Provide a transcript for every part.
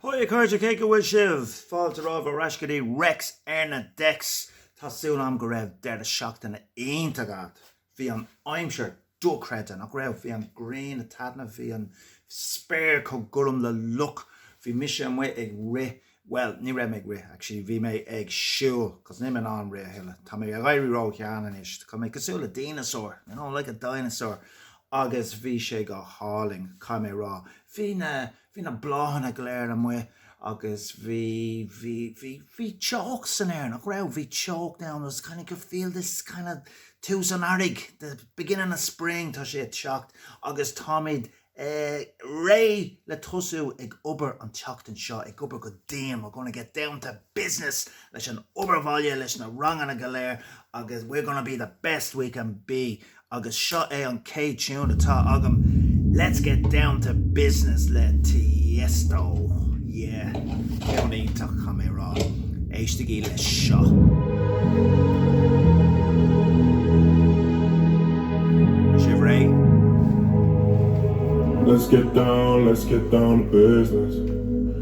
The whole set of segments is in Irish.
Hi a chairde, cén chaoi a bhfuil sibh fáilte romhaibh ar ais go dtí Rex ar na Decks. Tá súil agam go raibh deireadh seachtaine iontach agat. Bhí an aimsir dochreidte, nach raibh? Bhí an ghrian ag taitneamh, bhí an spéir chomh gorm le luch. Bhí mise amuigh ag rith, bhuel, ní raibh mé ag rith actually, bhí mé ag siúl cos níl mé in ann rith a thuilleadh, tá mé ag éirí ró-shean anois, tá mé cosúil le díneasár, you know, like a dinosaur. agus bhí sé go hálainn, caithfidh mé a rá. Bhí na, bhí na bláthanna go léir amuigh agus bhí, bhí, bhí, bhí teocht san aer, nach raibh? Bhí teocht ann, it was kind of, could feel this kind of tús an earraigh, the beginning of spring, tá sé ag teacht agus táimid réidh le tosú ag obair an tseachtain seo, ag obair go dian, we're going to get down to business leis an obair bhaile, leis na ranganna go léir agus we're going to be the best we can be Agus seo é an chéad tiún atá agam Let's get down to business le Tiesto yeah Ceann iontach caithfidh mé a rá Éistigí leis seo. Sibh réidh? Let's get down, let's get down to business.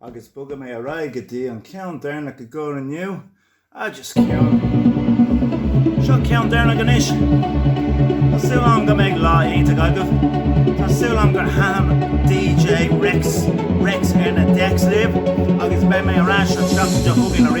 Agus bogfaidh mé ar aghaidh go dtí an ceann deireanach i gcomhair inniu. Ah, just ceann. Seo an ceann deireanach anois. Tá súil agam go mbeidh lá iontach agaibh. Tá súil agam gur thaitin DJ Rex Rex ar na decks libh agus beidh mé ar ais an tseachtain seo chugainn arís.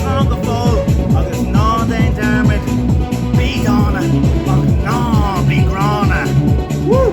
Slán go fóill agus ná déan dearmad, bí dána ach ná bí gránna! Woo!